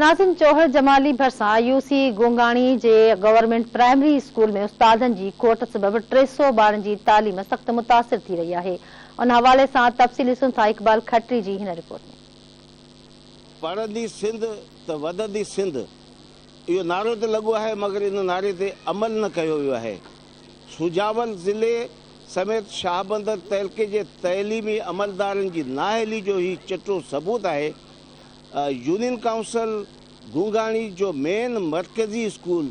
ناظم جوهر جمالي ڀرسان UC Gongani جي گورنمينٽ پرائمري اسڪول ۾ استادن جي کوٽ سبب ٽي سؤ ٻارن جي تعليم سخت متاثر ٿي رهي آهي ان حوالي سان تفصيل ڏسون ٿا اقبال کٽري جي هن رپورٽ ۾. پڙهندي سنڌ ته وڌندي سنڌ اهو نعرو ته لڳو آهي مگر ان نعري تي عمل نه ڪيو ويو آهي سجاول ضلعي سميت شاهبندر تعلقي جي تعليمي عملدارن جي نااهلي جو هي چٽو ثبوت آهي يونين ڪائونسل گونگاڻي جو مين مرڪزي school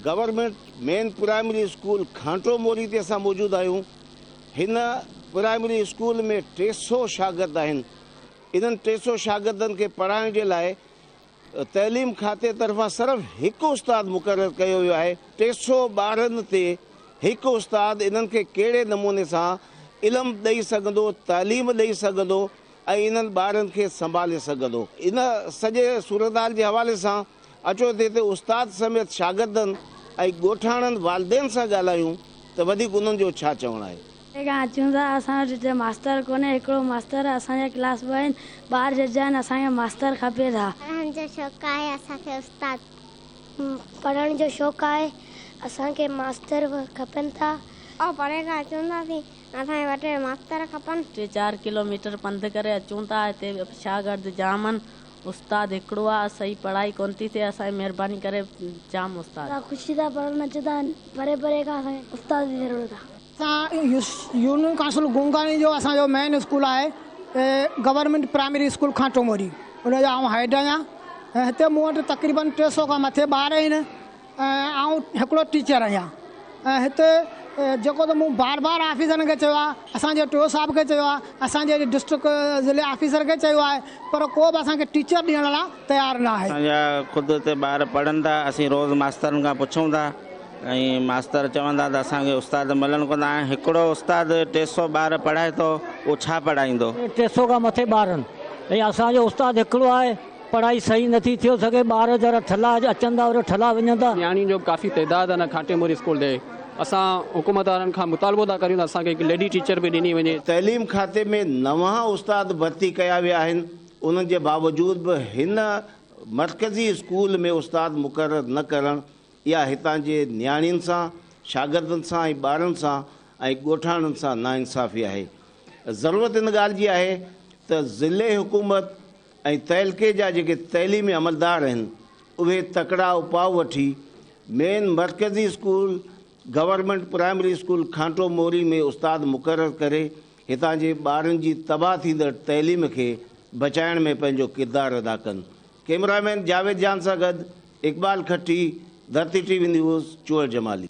government main primary school Ghanto Mori تي اسان موجود آهيون هن پرائمري اسڪول ۾ ٽي سو شاگرد آهن انهن ٽي سو شاگردن کي پڙهائڻ جي لاء تعليم کاتي طرفان صرف هڪ استاد مقرر ڪيو ويو آهي ٽي سو ٻارن تي هڪ استاد انهن کي ڪهڙي نموني سان علم ڏئي سگهندو تعليم ڏئي سگهندو ۽ انهن ٻارن کي سنڀالي سگهندو. ان سڄي صورتحال جي حوالي سان اچو تي تي استاد سميت شاگردن ۽ ڳوٺاڻن والدين سان ڳالهايون ته وڌيڪ انهن جو ڇا چوڻ آهي. ڪنهن کان اچون ٿا اسان وٽ هتي ماستر ڪونهي هڪڙو ماستر اسان جا ڪلاس ٻه آهن ٻار ججا آهن اسان کي ماستر کپي ٿا. پڙهڻ جو شوق آهي اسان کي استاد. پڙهڻ جو شوق آهي اسان کي ماستر کپن ٿا. آئون پري کان اچون ٿا اسين اسان وٽ ماستر کپن. ٽي چار ڪلو ميٽر پنڌ ڪري اچون ٿا هتي شاگرد جام ان استاد هڪڙو آ سهي پڙهائي ڪون ٿي ٿئي اسان جي مهرباني ڪري جام استاد. خوشي سان پڙهڻ اچن ٿا پري پري کان اسان کي استاد جي ضرورت آ. اسان يونين ڪائونسل گونگاڻي جو اسان جو مين اسڪول آهي government primary school Khanto Mori ان جو آئون هيڊ آهيان ۽ هتي مون وٽ تقريبن ٽي سئو کان مٿي ٻار آهن. آئون هڪڙو ٽيچر آهيان ۽ هتي جيڪو ته مون بار بار آفيسرن کي چيو آهي، اسان جي ٽيو صاحب کي چيو آهي، اسان جي ڊسٽرڪٽ ضلعي آفيسر کي چيو آهي پر ڪو به اسان کي ٽيچر ڏيڻ لا تيار نه آهي. اسان جا خود هتي ٻار پڙهن ٿا، اسين روز ماسترن کان پڇون ٿا ۽ ماستر چون ٿا ته اسان کي استاد ملن ڪونه ٿا، هاڻي هڪڙو استاد ٽي سؤ ٻار پڙهائي ٿو اهو ڇا پڙهائيندو. ٽي سؤ کان مٿي ٻارن ۽ اسان جو استاد هڪڙو آهي. پڙهائي صحيح نٿي ٿيو سگهي ٻار جرا ٺلا اڄ اچن ٿا وري ٺلا وڃن ٿا. نياڻين جو به ڪافي تعداد هن کانٽي موري اسڪول ڏي اسان حڪومت وارن کان مطالبو ٿا ڪريون ته اسان کي هڪ ليڊي ٽيچر به ڏني وڃي. تعليم کاتي ۾ نوان استاد ڀرتي ڪيا ويا آهن انهن جي باوجود به هن مرڪزي اسڪول ۾ استاد مقرر نه ڪرڻ يا هتان جي نياڻين سان شاگردن سان ۽ ٻارن سان ۽ ڳوٺاڻن سان ناانصافي آهي ضرورت ان ڳالهه جي آهي ته ضلعي حڪومت ۽ تعلقي جا جيڪي تعليمي عملدار آهن اهي تڪڙا اپاء وٺي مين مرڪزي school government primary school Khanto Mori ۾ استاد مقرر ڪري هتان جي ٻارن جي تباهه ٿيندڙ تعليم کي بچائڻ ۾ پنهنجو ڪردار ادا ڪن. ڪئميرا مين جاويد جان سان گڏ Iqbal Khatti, Dharti TV news, Chohal Jamali.